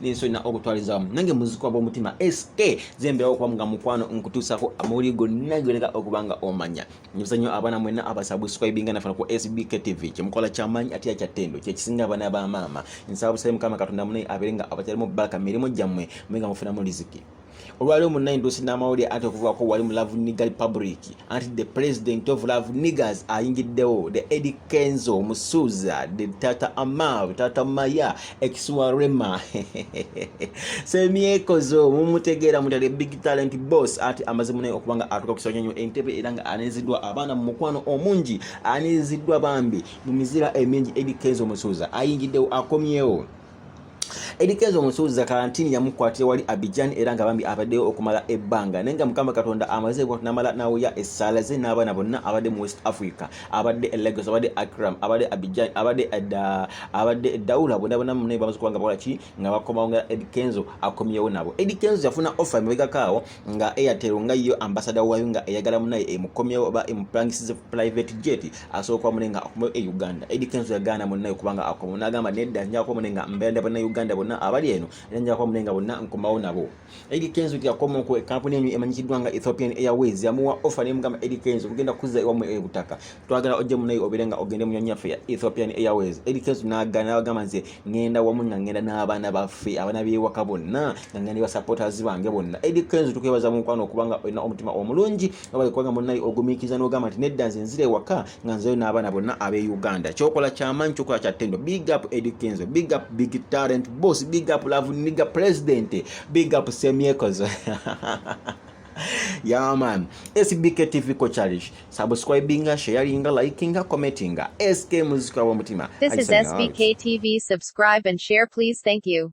n'ensi olina okutwaliza wamu nange muzikwa bw'omutima sk zembeerawo okuba nga mukwano nkutuusako amawuli gonna gyoleka okuba nga omanya nyibuza nnyo abaana mwenna abasabuscribinga nafuna ku sbk tv kyemukola kyamaanyi ate ya kyattendo kyekisinga abaana ba maama nsaba busabe mukama katonda munaye abeere nga abakyalimu bbaka mirimu gyammwe mwe nga mufunamu liziki olwaliwo munayi ndosi n'amawulire anti okuvugako wali mu love niga republic anti the president of love niggers ayingiddewo the edi kenzo musuuza the tata amav tata maya ekisuwa rema semyekozo mumutegeera mutale big talent boss anti amaze munayi okubanga atuka ku kisoonyo entebe era nga aneziddwa abaana mu mukwano omungi aneziddwa bambi mu mizira emingi edi kenzo musuuza ayingiddewo akomyewo Eddy Kenzo omusuuza kalantini yamukwatira wali Abidjan era nga bambi abaddeyo okumala ebbanga naye nga Mukama Katonda amaze ekwatu n'amala n'awuya essaala ze n'abaana bonna abadde mu West Africa abadde e Lagos abadde Akram abadde Abidjan abadde edda eh, abadde Daula bonna bonna munne bamaze kuba nga bakola ki nga bakomawo nga Eddy Kenzo akomyewo nabo Eddy Kenzo yafuna offer emabegako awo nga airtel nga yo ambasada wayo nga eyagala munaye emukomyewo oba emupangisize private jet asooka mune nga akomewo e uganda edi kenzo yagaana munaye kubanga akomo nagamba nedda njakuba mune nga mbeeranda bonna uganda bonna abali eno era njakuba mune nga bonna nkomawo nabo edi kenzo yakomo ku kampuni enyo emanyikiddwa nga ethiopian airways yamuwa offer nemugamba edi kenzo kugenda kuzza ewamu ebutaka twagala ojje munaye obere nga ogende mu nyonyi yaffe ya ethiopian airways eri kensi nagana nabagamba nze ngenda wamu nga ngenda n'abaana baffe abaana b'ewaka bonna nga ngenda basupporters bange bonna eri kensi tukwebaza mu mukwano okubanga olina omutima omulungi nobale kubanga munaye ogumiikiriza n'ogamba nti nedda nze nzira ewaka nga nzeyo n'abaana bonna ab'e uganda kyokola kyamaanyi kyokola kya ttendo big up eri kenzo big up big talent boss big up love niga president big up semyekozo yaman sbk tv ko challenge subscribinga sharinga likinga commentinga sk muzika wa mutima this is sbk tv subscribe and share please thank you